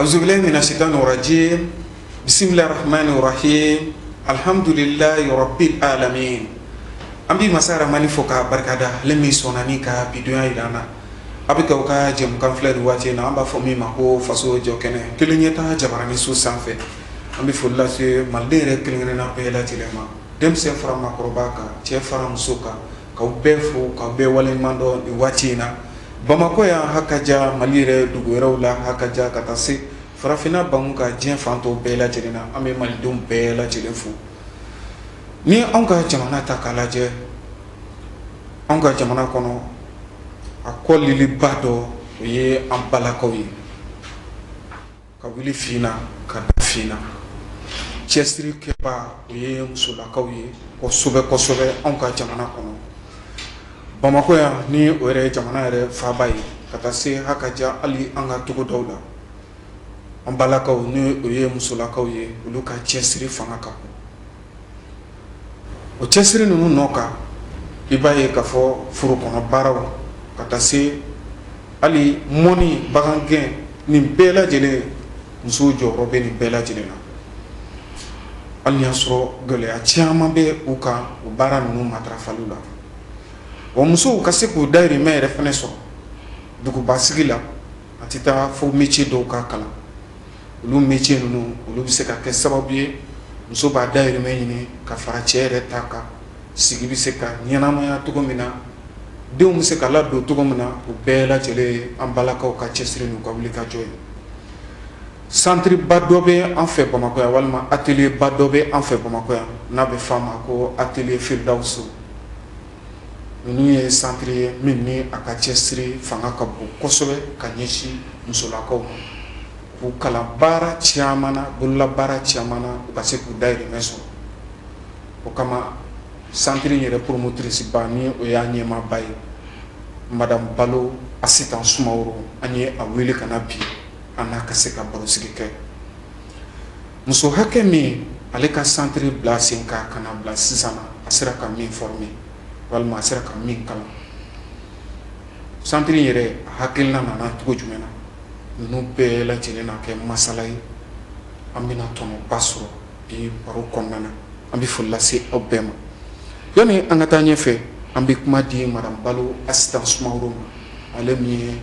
Awuzubilahi mina sayitani rajimi bisimilahi rahamani rahimi alihamdulilahi rabili alamina an bɛ masa rahamani fo k'a barika da ale min sɔnna ka bi don jira an na aw bɛ k'aw ka jɛmukan filɛ waati na an b'a fɔ min ma ko faso jɔ kɛnɛ kelen ɲɛtaa jabaranin so sanfɛ an bɛ foli lase maliden yɛrɛ kelen kelenna bɛɛ lajɛlen ma denmisɛn fara maakɔrɔba kan cɛ fara muso kan K'aw bɛɛ fo k'aw bɛɛ waleɲumandɔn nin waati in na Bamakɔ yan hakaja Mali yɛrɛ dugu wɛrɛw la hakaja ka taa se farafinna banku kan diɲɛ fan tɔw bɛɛ lajɛlen na an bɛ malidenw bɛɛ lajɛlen fo ni anw ka jamana ta k'a lajɛ anw ka jamana kɔnɔ a kɔliliba dɔ o ye an balakaw ye Ka wuli fii na ka da fii na cɛsiri kɛbaa o ye musolakaw ye kosɛbɛ kosɛbɛ anw ka jamana kɔnɔ bamakɔ yan ni o yɛrɛ ye jamana yɛrɛ faaba ye ka taa se hakaja hali an ka togodaw la an balakaw ni o ye musolakaw ye olu ka cɛsiri fanga ka bon o cɛsiri ninnu nɔ kan i b'a ye k'a fɔ foro kɔnɔ baaraw ka taa se hali mɔni bagangɛn nin bɛɛ lajɛlen musow jɔyɔrɔ bɛ nin bɛɛ lajɛlen na hali n'i y'a sɔrɔ gɛlɛya caman bɛ u kan o baara ninnu matarafali la wa musow ka se k'u dahirimɛ yɛrɛ fɛnɛ sɔrɔ dugubasigi la a tɛ taa fo métier dɔw ka kalan olu métier ninnu olu bɛ se ka kɛ sababu ye muso b'a dahirimɛ ɲini ka fara cɛ yɛrɛ ta kan sigi bɛ se ka ɲɛnamaya cogo min na denw bɛ se ka ladon cogo min na o bɛɛ lajɛlen an balakaw ka cɛsiri n'u ka wuli ka jɔ ye centre ba dɔ bɛ an fɛ Bamakɔ yan walima atelier ba dɔ bɛ an fɛ Bamakɔ yan n'a bɛ f'a ma ko atelier Firidawusu ninnu ye centre ye min ni a ka cɛsiri fanga ka bon kosɛbɛ ka ɲɛsin musolakaw ma k'u kalan baara caman na bololabaara caman na u ka se k'u dahirimɛ sɔrɔ o kama centre in yɛrɛ promotrice ba ni o y'a ɲɛmaaba ye madame Balo Asitan Sumaworo an ye a wele ka na bi an n'a ka se ka barosigi kɛ Muso hakɛ min ale ka centre bila sen kan ka na bila sisan na, a sera ka min former walima a sera ka min kalan, centre in yɛrɛ a hakilina nana cogo jumɛn na? ninnu bɛɛ lajɛlen na kɛ masala ye, an bɛna tɔnɔba sɔrɔ bi baro kɔnɔna na, an bɛ foli lase aw bɛɛ ma. Yanni an ka taa ɲɛfɛ, an bɛ kuma di madame Balo Asitan Sumaworo ma, ale min ye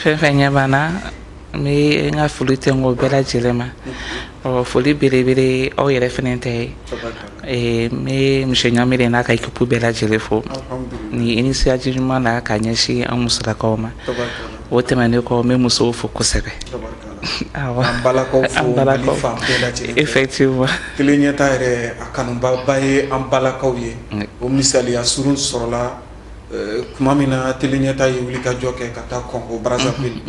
fɛn fɛn ɲɛ b'an na n bɛ n ka foli tɛ n kɔ bɛɛ lajɛlen ma ɔ foli belebele aw yɛrɛ fana tɛ ye ee n bɛ monsieur Ɲamele n'a ka équipe bɛɛ lajɛlen fo nin initiative ɲuman na ka ɲɛsin an musolakaw ma o tɛmɛnen kɔ n bɛ musow fo kosɛbɛ awɔ an balakaw fo an balakaw. Mali fan bɛɛ lajɛlen fɛ. effectivement tele ɲɛta yɛrɛ a kanubaba ye an balakaw ye o misaliya surun sɔrɔla kuma min na tele ɲɛta ye wuli ka jɔ kɛ ka taa Congo Brazzaville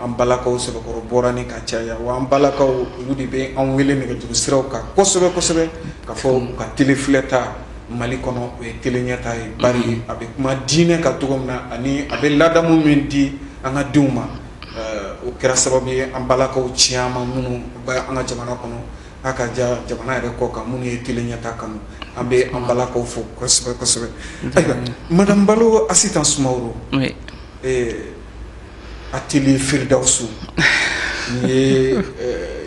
an balakaw sɛbɛkɔrɔ bɔra ni ka caya wa an balakaw olu de bɛ an wele nɛgɛjuru siraw kan kosɛbɛ kosɛbɛ ka fɔ u ka tele filɛta Mali kɔnɔ o ye tele ɲɛta ye bari a bɛ kuma diinɛ kan cogo min na ani a bɛ ladamu min di an ka denw ma o kɛra sababu ye an balakaw caman minnu bɛ an ka jamana kɔnɔ A ka ja jamana yɛrɛ kɔkan minnu ye tele ɲɛta kanu an bɛ an balakaw fo kosɛbɛ kosɛbɛ ayiwa madame Balo Asitan Sumaworo atelier Firdausu nin ye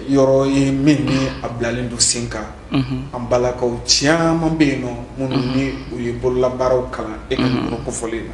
yɔrɔ ye min ni a bilalen don sen kan an balakaw caman bɛ yen nɔ minnu ni u ye bololabaaraw kalan e ka yɔrɔ kofɔlen na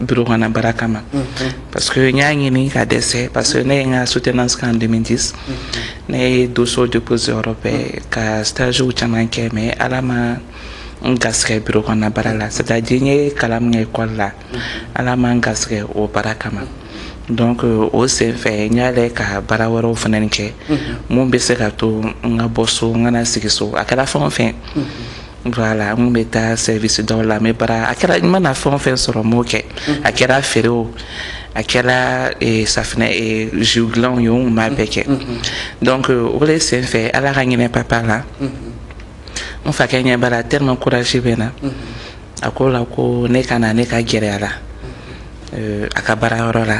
bureau kɔnɔ baara kama parce que n y'a ɲini ka dɛsɛ parce que ne ye n ka soutenance kɛ en 2010 ne ye dossier déposé yɔrɔ bɛɛ ka stage caman kɛ mais ala ma n gasigɛ bureau kɔnɔ baara la c'est à dire n ye kalan min kɛ école la ala ma n gasigɛ o baara kama donc euh, o sen fɛ n y'a lɛ ka baara wɛrɛw fana kɛ mun bɛ se ka to n ka bɔ so n kana sigi so a kɛra fɛn o fɛn Voilà, n kun bɛ taa service dɔw la n bɛ baara a kɛra n mana fɛn o fɛn sɔrɔ n b'o kɛ a kɛra feere o a kɛra eh, safinɛ eh, jus dilanw ye n kun b'a bɛɛ kɛ donc o de senfɛ Ala ka hinɛ papa la n fakɛ ɲɛ b'a la tellement courage bɛ n na a ko la ko ne ka na ne ka gɛrɛ a la eh, a ka baarayɔrɔ la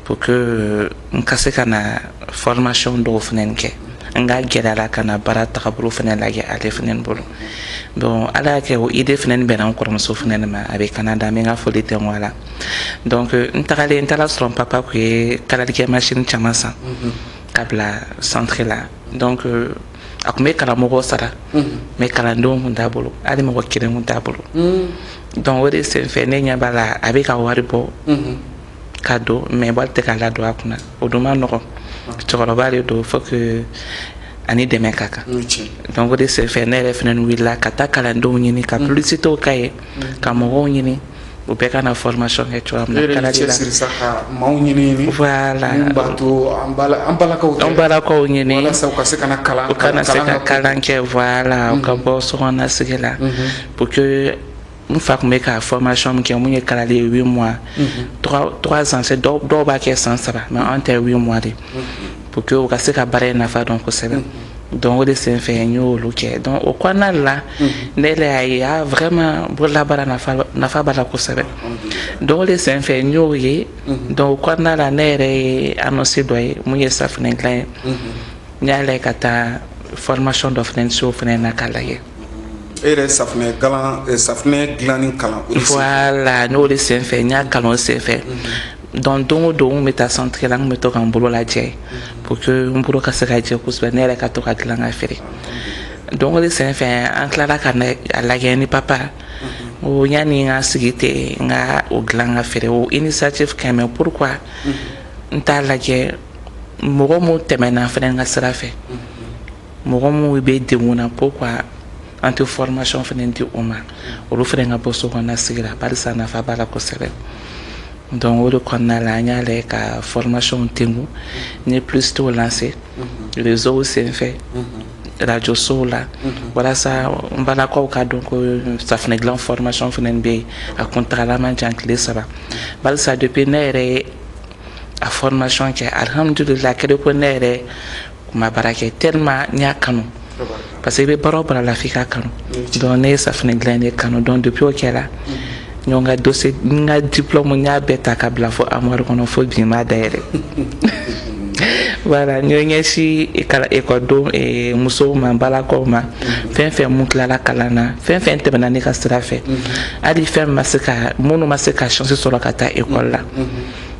pour que n ka se ka na formation dɔw fana kɛ n ka gɛrɛ a la ka na baara tagabolo fana lajɛ ale fana bolo donc ala y'a kɛ o idée fana bɛnna n kɔrɔmuso fana de ma a bɛ Canada n bɛ n ka foli tɛ a la donc n tagalen n taara a sɔrɔ n papa kun ye kalalikɛ machine caman san ka bila centre la donc a kun bɛ karamɔgɔ sara mais kalandenw kun t'a bolo hali mɔgɔ kelen kun t'a bolo donc o de senfɛ ne ɲɛ b'a la a bɛ ka wari bɔ ka don mais wari tɛ ka ladon a kunna o dun man nɔgɔ cɛkɔrɔba de don faut que a ni dɛmɛ ka kan donc o de senfɛ ne yɛrɛ fana wulila ka taa kalandenw ɲini ka mm. publicitéw k'a ye mm. ka mɔgɔw ɲini u bɛɛ ka na formation kɛ cogoya min na kalali la maaw ɲini voilà an balakaw an balakaw ɲini walasa u ka se ka na kalan u ka na se ka kalan kɛ voilà u ka mm-hmm. bɔ sokɔnɔna sigi la mm-hmm. pour que n fa kun bɛ ka formation min kɛ mun ye kalali ye huit mois trois ans dɔw b'a kɛ san saba mais an ta ye huit mois de pour que u ka se ka baara in nafa dɔn kosɛbɛ donc o de sen fɛ n y'olu kɛ donc o kɔnɔna la ne yɛrɛ y'a ye a vraiment bololabaara nafa b'a la kosɛbɛ donc o de sen fɛ n y'o ye donc o kɔnɔna la ne yɛrɛ ye annonce dɔ ye mun ye safinɛ dilan ye n y'a lajɛ ka taa formation dɔ fana se o fana na k'a lajɛ e yɛrɛ safunɛ dilan eh, safunɛ dilanni kalan o de sen fɛ voilà n'o de sen fɛ n y'a kalan o sen fɛ mhm. donc don o don n kun bɛ taa centre la n kun bɛ to ka n bolo lajɛ mhm. pour que n bolo ka se ka jɛ kosɛbɛ ne yɛrɛ ka to ka dilan ka feere donc o de sen fɛ an tilala ka a lajɛ ni papa mhm. ko yanni n ka sigi ten n ka o dilan ka feere o initiative ka ɲi mais pourquoi n t'a lajɛ mɔgɔ mun tɛmɛna fana n ka sira fɛ. mɔgɔ mun bɛ degun na pourquoi an tɛ formation fana di o ma olu fana ka bɔ so kɔnɔna sigi la barisa nafa b'a la kosɛbɛ donc o de kɔnɔna la an y'a lajɛ ka formation tengu n ye publicité lancer réseau senfɛ radio sow la walasa n balakaw ka dɔn ko safinɛ dilan formation fana bɛ yen a kuntagala man jan tile saba barisa depuis ne yɛrɛ ye a formation kɛ alhamdulila kɛlen ko ne yɛrɛ kun ma baara kɛ tellement n y'a kanu parce que i bɛ baara o baara la f'i k'a kanu donc ne ye safinɛ dilan de kanu donc depuis o kɛra n y'o n ka dossier n ka diplôme n y'a bɛɛ ta ka bila fo armoire kɔnɔ fo bi n m'a dayɛlɛ voilà n y'o ɲɛsin ekɔlidenw eh, musow ma balakaw ma fɛn fɛn mun tilala kalan na fɛn fɛn tɛmɛna ne ka sira fɛ hali fɛn ma se ka minnu ma se ka chance sɔrɔ ka taa ekɔli la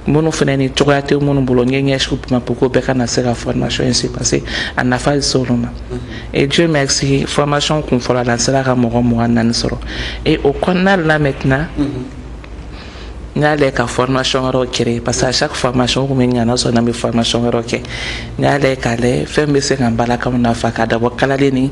minnu fana ni cogoya tɛ minnu bolo n ye ɲɛsin u ma pour que bɛɛ ka na se ka formation in se parce que a nafa bɛ se olu ma et Dieu merci formation kun fɔlɔ la n sera ka mɔgɔ mugan ni naani sɔrɔ et o kɔnɔna la maintenant n y'a lajɛ ka formation wɛrɛw créer parce que à chaque formation kun bɛ ɲana sɔrɔ n'an bɛ formation wɛrɛw kɛ n y'a lajɛ k'a lajɛ fɛn bɛ se ka n balakaw nafa ka dabɔ kalali ni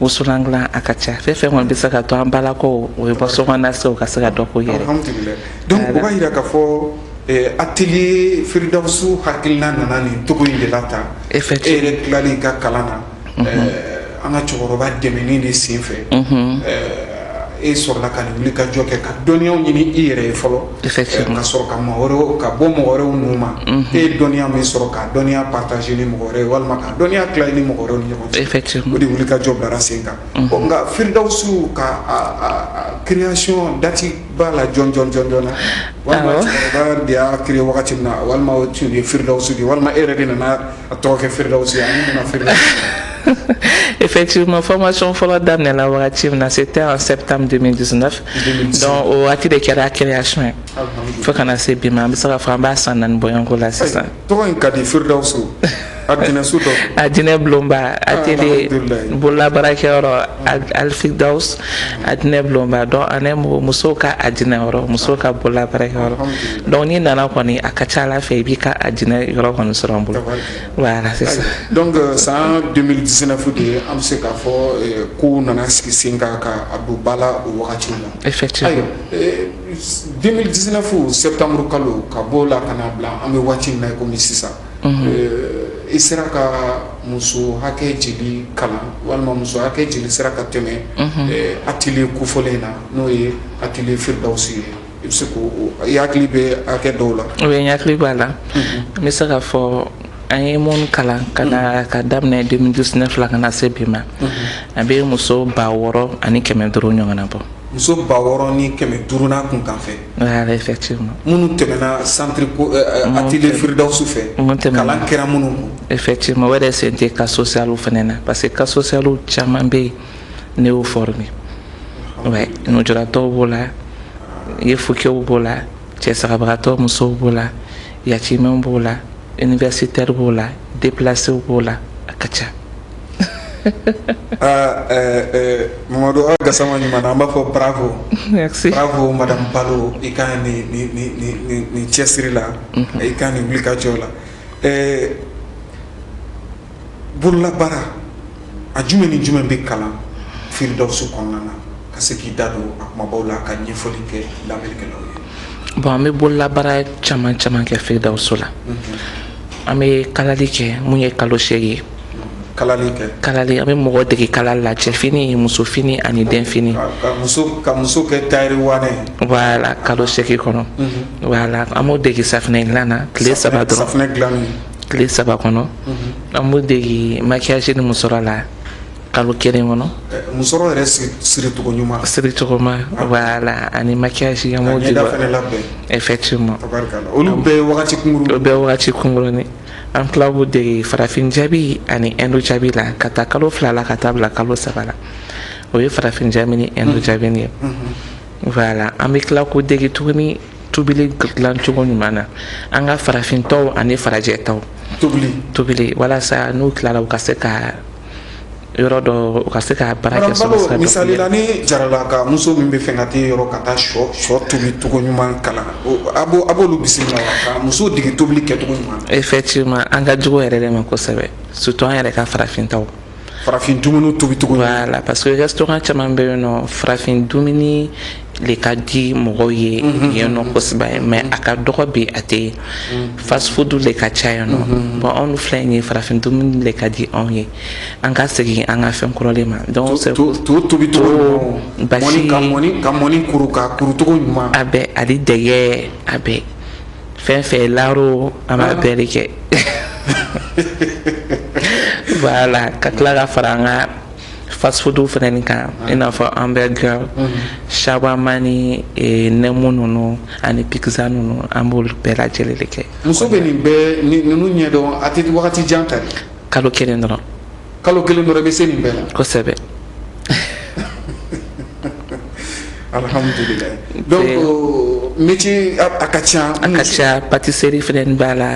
wusulan dilan a ka ca fɛn fɛn kɔni bɛ se ka to an balakaw o ye bɔ so kɔnɔna se o ka se ka dɔ k'o yɛrɛ Alhamdulilahi. Donc o b'a yira k'a fɔ eh, atelier Firidawusu hakilina nana nin cogo in de la tan e Effectivement. yɛrɛ tilalen i ka kalan na eh, an ka cɛkɔrɔba dɛmɛni de senfɛ eh, e sɔrɔla ka nin wuli ka jɔ kɛ ka dɔnniyaw ɲini i yɛrɛ ye fɔlɔ ka sɔrɔ ka mɔgɔ wɛrɛw ka bɔ mɔgɔ wɛrɛw ninnu ma e ye dɔnniya min sɔrɔ ka dɔnniya partager ni mɔgɔ wɛrɛ walima ka dɔnniya tila i ni mɔgɔ wɛrɛw ni ɲɔgɔn cɛ o de wuli ka jɔ bilara sen kan ɔ nka Firidawusu ka création date b'a la jɔn jɔn jɔn jɔn na walima cɛkɔrɔba de y'a créer wagati min na walima o tun ye Firidawusu de ye walima e yɛrɛ de nana A tɔgɔ kɛ feere efeti ma fɔ ma sɔn fɔlɔ daminɛ na wagati na se tɛ an sɛ tan dɔn o waati de kɛra kɛnɛyaya sɔn ye fo kana na se bi ma an bɛ se ka fɔ an b'a san naani bɔyanko la sisan ka di feeredaw so a a jinɛinɛ bulonba a teri bolola baarakɛyɔrɔ Alfiridawusu alijinɛ bulonba donc ani mɔgɔ musow ka alijinɛ yɔrɔ musow ka bololabaarakɛyɔrɔ donc n'i nana kɔni a ka ca ala fɛ i b'i ka alijinɛ yɔrɔ kɔni sɔrɔ an bolo voilà c'est ça donc san deux mille dix-neuf de an bɛ se k'a fɔ kow nana sigi sen kan ka a don ba la o wagati la effectivement deux mille dix-neuf sɛtanburu kalo ka bɔ o la ka na bila an bɛ waati min na kɔmi sisan i sera ka muso hakɛ joli kalan walima muso hakɛ joli sera ka tɛmɛ atelier kofɔlen in na n'o ye atelier Firidawusu ye i bɛ se k'o i hakili bɛ hakɛ dɔw la oui n hakili b'a la n bɛ se k'a fɔ an ye minnu kalan ka ka daminɛ deux mille dix-neuf la ka na se bi ma a bɛ muso ba wɔɔrɔ ani kɛmɛ duuru ɲɔgɔnna bɔ muso ba wɔɔrɔ ni kɛmɛ duuru n'a kunkanfɛn minnu tɛmɛna santiri atelier Firidawusu fɛ kalan kɛra minnu kun effectivement o yɛrɛ sen tɛ cas socialw fana na parce que cas socialw caman bɛ yen ne y'o former nujuratɔw b'o la yefukew b'o la cɛsabagatɔ musow b'o la yatimɛw b'o la Universitaire b'o la déplacéw b'o la a ka ca ah, eh, eh, Mamadu Awa Gasama ɲuman na an b'a fɔ bravo merci bravo madame Balo i ka ni ni ni ni ni cɛsiri la mhm. i ka ni wulikajɔ la eh, bololabaara a jumɛn ni jumɛn bɛ kalan Firidawusu kɔnɔna na ka se k'i da don a kumabaw la ka ɲɛfɔli kɛ lamɛnnikɛlaw ye bon an bɛ bololabaara caman caman kɛ Firidawusu la an bɛ kalali kɛ mun ye kalo seegin ye kalali an bɛ mɔgɔ dege kalali la cɛfini musofini ani denfini voilà kalo seegin kɔnɔ voilà an b'o dege safinɛ dilan na tile saba tile saba kɔnɔ an b'o dege maquillage ni musɔrɔ la kalo kelen kɔnɔ musɔrɔ yɛrɛ siricogo ɲuman siricogo ma voilà ani maquillage an b'o dege effectivement olu bɛɛ ye wagati kunkurunni o bɛɛ ye wagati kunkurunni an tila k'u dege farafin jabi ani indu jabi la ka taa kalo fila la ka taa bila kalo saba la o ye farafin jabi ni indu jabi ye voilà an bɛ tila k'u dege tuguni tobili dilan cogo ɲuman na an ka farafin tɔw ani farajɛ tɔw tobili tobili walasa n'u tilala u ka se ka yɔrɔ dɔ u ka se ka baara kɛ sɔrɔ sira misali la ni jarala ka muso min bɛ fɛ ka t'i yɔrɔ ka taa sɔ sɔ tobi cogo ɲuman kalan a b'o a b'olu bisimila ka muso dege tobili kɛcogo ɲuman effectivement an ka jugu yɛrɛ de ma kosɛbɛ surtout an yɛrɛ ka farafin taw farafin dumuni tobi cogo voilà parce que restaurant caman bɛ yen nɔ farafin dumuni le ka di mɔgɔw ye mhm. yen nɔ kosɛbɛ ye mais a ka dɔgɔ bi a tɛ mhm. fast food le ka ca yen nɔ mhm. bon anw filɛ nin ye farafin dumuni le ka di anw ye an ka segin an ka fɛn kɔrɔ le ma donc c'est to tobi cogo basi ka mɔni ka mɔni kuru ka kuru cogo ɲuman a bɛɛ hali dɛgɛ a bɛɛ fɛn fɛn laro an b'a bɛɛ le kɛ voilà ka tila ka fara an ka fast food fana nin kan i n'a fɔ hamburger shawarma ni eh, nɛmu ninnu ani pizza ninnu an b'olu bɛɛ lajɛlen le kɛ muso bɛ nin bɛɛ ni- ninnu ɲɛdɔn a tɛ wagati jan ta dɛ. kalo kelen dɔrɔn kalo kelen dɔrɔn i bɛ se nin bɛɛ la kosɛbɛ alhamdulilayi donc Te- euh, métier a a ka ca a ka ca pâtisserie fana b'a la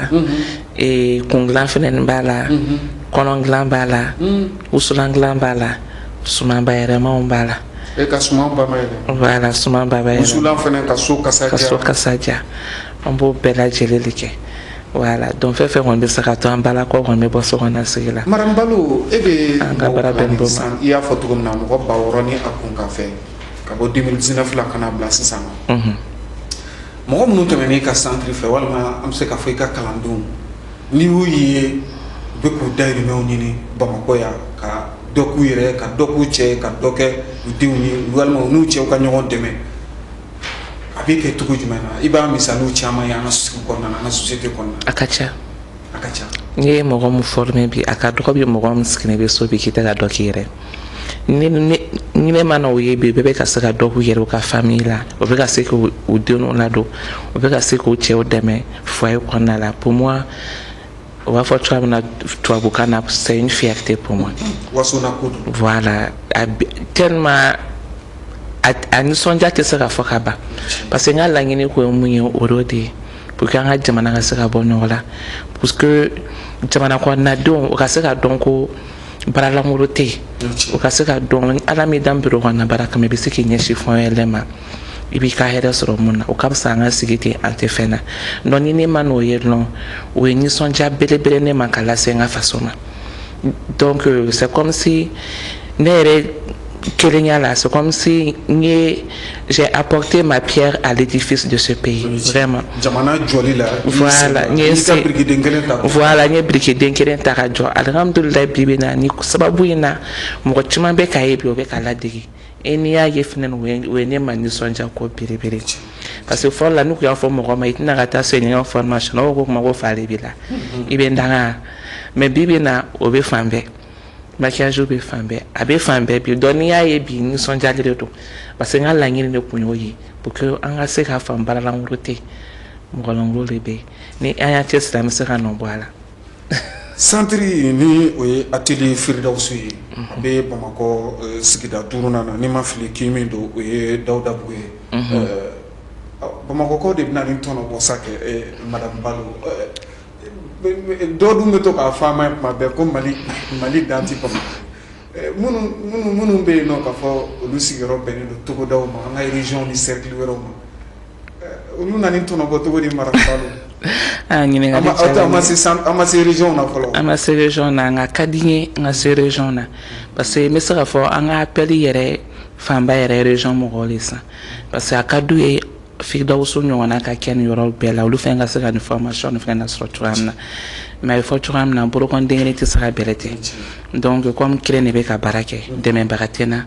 ee kun dilan fɛnɛ nin b'a la mhm. kɔnɔ dilan b'a la mm. wusulan dilan b'a la suman bayɛrɛmaw b'a la e ka suman ba bayɛlɛma voilà suman ba bayɛlɛma wusulan fɛnɛ ka so kasa diya ka so kasa diya an b'o bɛɛ lajɛlen le kɛ voilà donc fɛn fɛn kɔni bɛ se ka to an balakaw kɔni bɛ bɔ so kɔnɔ sigi la madame balo e bɛ an ka baara bɛn bɔ ma i y'a fɔ cogo min na mɔgɔ ba wɔɔrɔ ni a kunkanfɛn ka bɔ 2019 la ka na bila sisan na mɔgɔ minnu tɛmɛn'i ka santiri fɛ walima an bɛ se ka fɔ i ka kalandenw n'i y'u ye u bɛ k'u dayirimɛw ɲini bamakɔ yan ka dɔ k'u yɛrɛ ka dɔ k'u cɛ ka dɔ kɛ u denw ye walima u n'u cɛw ka ɲɔgɔn dɛmɛ a bɛ kɛ cogo jumɛn na i b'a misaliw caman ye an ka sigi kɔnɔna na an ka société kɔnɔna na a ka ca n'i ye mɔgɔ min former bi a ka dɔgɔ bi mɔgɔ min sigilen bɛ so bi k'i tɛ ka dɔ k'i yɛrɛ ne mana o ye bi bɛɛ bɛ ka se ka dɔ k'u yɛrɛ u ka famille la o bɛ ka se k'u denw ladon o bɛ ka se k'u cɛw dɛmɛ foyer kɔnɔna la pour moi o b'a fɔ cogoya min na tubabukan na c'est une fierté pour moi voilà tellement a nisɔndiya tɛ se ka fɔ ka ban parce que n ka laɲini ko ye mun ye o de ye pour que an ka jamana ka se ka bɔ nɔgɔ la parce que jamana kɔnɔnadenw u ka se ka dɔn ko baara lankolon tɛ yen u ka se ka dɔn ala m'i dan biro kɔnɔna baara kama i bɛ se k'i ɲɛsin fɛn wɛrɛ ma i b'i ka hɛrɛ sɔrɔ min na o ka fisa an ka sigi ten an tɛ fɛn na donc ni ne man'o ye dɔrɔn o ye nisɔndiya belebele ne ma ka lase n ka faso ma donc euh, c'est comme si ne yɛrɛ kelenya la c'est comme si n ye j'ai apporté ma pierre à l'édifice de ce pays vraiment jamana jɔli la voilà n ye se birikiden kelen ta voilà n ye birikiden kelen ta ka jɔ alihamdulilayi bi bi na nin sababu in na mɔgɔ caman bɛ k'a ye bi o bɛ k'a ladege E n'i y'a ye fana o ye ne ma nisɔndiya ko belebele ye parce que fɔlɔ la n'i y'a fɔ mɔgɔ ma i tɛna ka taa o ɲɔgɔn formation o ko kuma ko fa de b'i la i bɛ n danga mais bi bi na o bɛ fan bɛɛ maquillage bɛ fan bɛɛ a bɛ fan bɛɛ bi donc n'i y'a ye bi nisɔndiya de don parce que n ka laɲini de tun y'o ye pour que an ka se k'a faamu baara lankolon tɛ yen mɔgɔ lankolon de bɛ yen ni an y'an cɛsiri an bɛ se ka nɔ bɔ a la Centre ni o ye atelier firidawusu ye a bɛ bamakɔ sigida duurunan na ni n ma fili kin min don o ye dawudabugu ye bamakɔkaw de bɛna nin tɔnɔ bɔ sa kɛ madame balo dɔ dun bɛ to k'a fɔ an ma tuma bɛɛ ko mali mali dan tɛ bamakɔ Minnu minnu bɛ yen nɔ k'a fɔ olu sigiyɔrɔ bɛnnen don togodaw ma an ka région ni cercle wɛrɛw ma olu na nin tɔnɔ bɔ cogo di madame balo ɲininkali an ma se région na fɔlɔ an ma se région na nka a ka di n ye n ka se région na parce que n bɛ se k'a fɔ an ka appel yɛrɛ fanba yɛrɛ région mɔgɔw de san parce que a ka d'u ye firidawusu ɲɔgɔnna ka kɛ nin yɔrɔ bɛɛ la olu fana ka se ka nin formation nin fana sɔrɔ cogoya min na mais a bɛ fɔ cogoya min na bolokɔniden kelen tɛ se ka bɛrɛ cɛ donc comme n kelen de bɛ ka baara kɛ dɛmɛbaga tɛ n na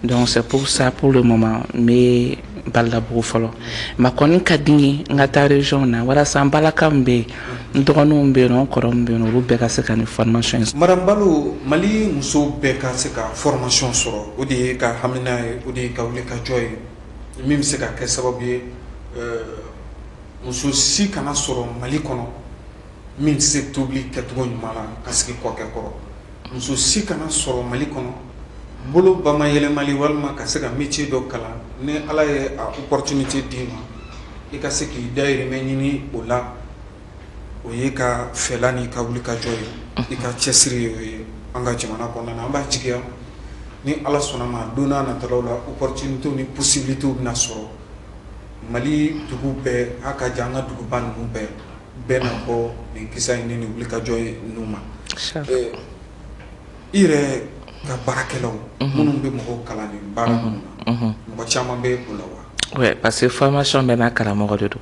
donc c'est pour ça pour le moment n bɛ dawudabugu fɔlɔ mais a kɔni ka di n ye n ka taa région na walasa n balima min bɛ yen n dɔgɔninw bɛ yen nɔ n kɔrɔ min bɛ yen nɔ olu bɛɛ ka se ka nin formation in sɔrɔ madame balo mali musow bɛɛ ka se ka formation sɔrɔ o de y'i ka hamina ye o de y'i ka wuli ka jɔ ye min bɛ se ka kɛ sababu ye muso si kana sɔrɔ mali kɔnɔ min tɛ se tobili kɛcogo ɲuman na ka sigi kɔkɛ kɔrɔ muso si kana sɔrɔ mali kɔnɔ bolo bamayɛlɛmali walima ka se ka métier dɔ kalan ni ala ye a opportunité d'i ma i ka se k'i dahirimɛ ɲini o la o y'i ka fɛla n'i ka wuli ka jɔ ye. I ka cɛsiri ye o ye an ka jamana kɔnɔna na. An b'a jigiya ni Ala sɔnna a ma don nataw la opportunites ni possibilites bɛna sɔrɔ Mali dugu bɛɛ a ka jan an ka duguba ninnu bɛɛ bɛna bɔ nin kiseya in ni nin wuli ka jɔ in nu ma. Ɛɛ i yɛrɛ ka baarakɛlaw minnu bɛ mɔgɔw kalan nin baara ninnu na mɔgɔ caman bɛ o la wa? Oui parceque formation bɛɛ n'a karamɔgɔ de don.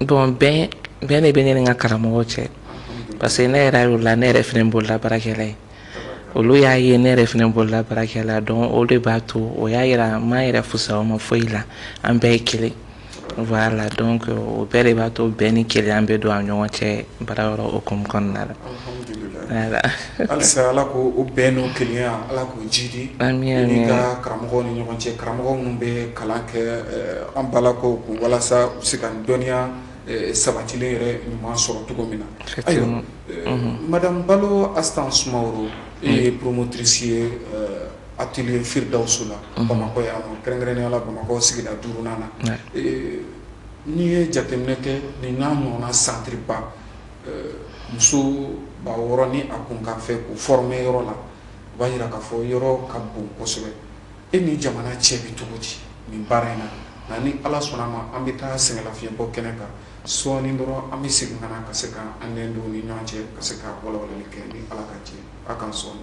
Bon bɛn bɛn de bɛ ne ni n ka karamɔgɔw cɛ parce que ne yɛrɛ voilà ne yɛrɛ fana bolola baarakɛla ye olu y'a ye ne yɛrɛ fana bolola baarakɛla don o de b'a to o y'a jira n ma n yɛrɛ fusaya o ma foyi la an bɛɛ ye kelen voilà donc o bɛɛ de b'a to bɛn ni kelenya bɛ don an ɲɔgɔn cɛ baarayɔrɔ hukumu kɔnɔna na halisa ala k'o bɛn n'o kelenya ala k'o jidi an ka karamɔgɔw ni ɲɔgɔn cɛ karamɔgɔ minnu bɛ kalan kɛ an balakaw kun walasa u se ka dɔnniya sabatilen yɛrɛ ɲuman sɔrɔ cogo min na ayiwa madame balo astan sumaworo e ye promotrice ye atelier firdawusu la bamakɔ yan kɛrɛnkɛrɛnnenya la bamakɔ sigida duurunan na N'i ye jateminɛ kɛ nin n'a ɲɔgɔnna centre ba ɛɛ muso ba 6 ni a kun kan fɛ k'u former yɔrɔ la, o b'a jira k'a fɔ yɔrɔ ka bon kosɛbɛ. E ni jamana cɛ bɛ cogo di nin baara in na? Nka ni Ala sɔnna a ma, an bɛ taa sɛgɛnlafiɲɛbɔ kɛnɛ kan sɔɔni dɔrɔn, an bɛ segin ka na ka se ka an nɛn don u ni ɲɔgɔn cɛ ka se ka walawalali kɛ ni Ala ka jɛn ye a kan sɔɔni.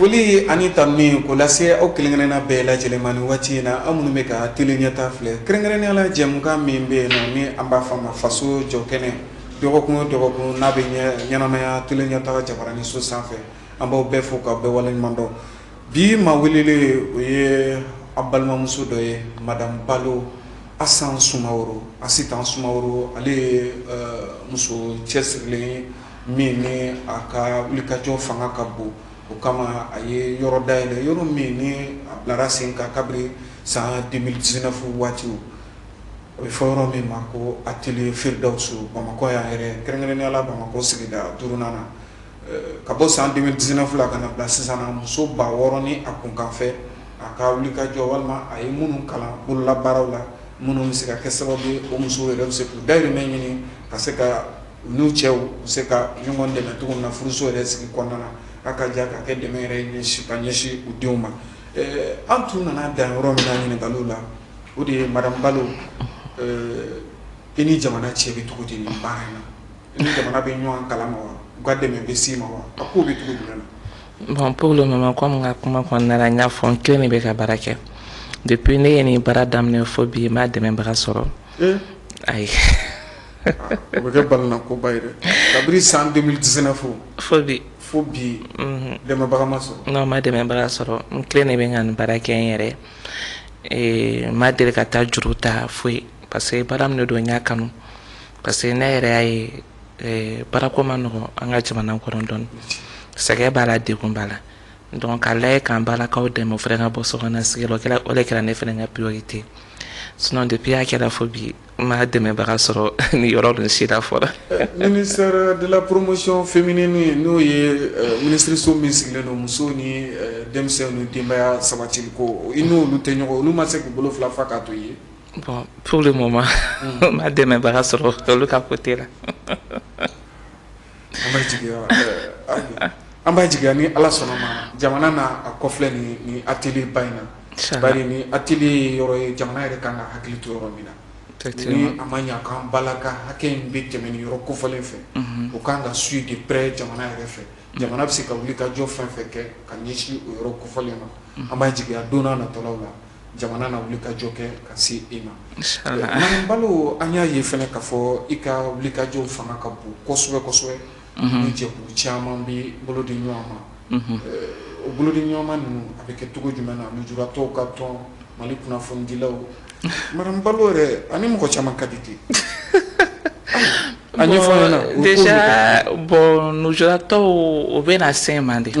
Foli ani tanuni k'o lase aw kelenkelenna bɛɛ lajɛlen ma nin waati in na aw minnu bɛ ka tele ɲɛta filɛ kɛrɛnkɛrɛnnenya la jɛmukan min bɛ yen ni an b'a fɔ a ma faso jɔ kɛnɛ dɔgɔkun dɔgɔkun n'a bɛ ɲɛnamaya tele ɲɛta jabaranin so sanfɛ an b'aw bɛɛ fo k'aw bɛɛ waleɲumandɔn bi ma welelen o ye an balimamuso dɔ ye madame balo astan sumaworo asitan sumaworo ale ye muso cɛsirilen ye min ni a ka wulikajɔ fanga ka bon o kama a ye yɔrɔ dayɛlɛ yɔrɔ min ni a bilara sen kan kabiri san deux mille dix-neuf waati o bɛ fɔ yɔrɔ min ma ko atelier firdawusu bamakɔ yan yɛrɛ kɛrɛnkɛrɛnnenya la bamakɔ sigida duurunan na ka bɔ san deux mille dix-neuf la ka na bila sisan na muso ba wɔɔrɔ ni a kun kan fɛ a ka wulikajɔ walima a ye minnu kalan bololabaaraw la minnu bɛ se ka kɛ sababu ye o musow yɛrɛ bɛ se k'u dahirimɛ ɲini ka se ka N'u cɛw u se ka ɲɔgɔn dɛmɛ cogo min na furuso yɛrɛ sigi kɔnɔna na a ka jan ka kɛ dɛmɛ yɛrɛ ɲɛsin ka ɲɛsin u denw ma an tun nana dan yɔrɔ min na ɲininkaliw la o de ye madame balo i ni jamana cɛ bɛ cogo di nin baara in na i ni jamana bɛ ɲɔgɔn kalama wa u ka dɛmɛ bɛ s'i ma wa a ko bɛ cogo jumɛn na bon pour le moment comme ka kuma kɔnɔna n y'a fɔ n kelen de bɛ ka baara kɛ depuis ne ye nin baara daminɛ fo bi n ma dɛmɛbaga sɔrɔ ayi O bɛ kɛ balannako ba ye dɛ kabini san deux mille dix-neuf fo bi fo bi dɛmɛbaga ma sɔrɔ n' ma dɛmɛbaga sɔrɔ n kelen de bɛ ka nin baara kɛ n yɛrɛ n ma deli ka taa juru ta foyi parce que baara min de don n y'a kanu parce que ne yɛrɛ y'a ye baarako ma nɔgɔ an ka jamana kɔnɔ dɔɔni sɛgɛn b'a la degun b'a la donc k'a lajɛ k'an balakaw dɛmɛ o fana ka bɔ so sigi la o de kɛra ne fana ka priorité sinon depuis a kɛra fo bi N ma dɛmɛbaga sɔrɔ ni yɔrɔ ninnu si la fɔlɔ ministère de la promotion féminine n'o ye minisiriso min sigilen don muso ni denmisɛnw ni denbaya sabatili ko i n'olu tɛ ɲɔgɔn olu ma se k'u bolo fila fa k'a to ye bon pour le moment n ma dɛmɛbaga sɔrɔ olu ka côté la an b'a jigiya an b'a jigiya ni ala sɔnna ma jamana na a kɔfilɛ ni ni atelier ba in na bari ni atelier ye yɔrɔ ye jamana yɛrɛ ka kan ka hakili to yɔrɔ min na ni a ma ɲɛkan bala ka hakɛ in bɛ tɛmɛ ni yɔrɔ kofɔlen fɛ o k ka kan ka suivre de près jamana yɛrɛ fɛ jamana bɛ se ka wulikajɔ fɛn fɛn kɛ ka ɲɛsin o yɔrɔ kofɔlen ma an b'a jigiya don nataw la jamana na wulikajɔ kɛ ka se e ma madamu balo an y'a ye fɛnɛ k'a fɔ i ka wulikajɔ fanga ka bon kosɛbɛ kosɛbɛ ni jɛkulu caman bɛ bolo di ɲɔgɔn ma o bolodiɲɔgɔnma ninnu a bɛ kɛ cogo jumɛn na lujuratɔw ka tɔn mali kunnafonidilaw madamu balo yɛrɛ ani mɔgɔ caman ka di ten a ɲɛfɔ an ɲɛna déjà bon lujuratɔw o bɛ na se mande de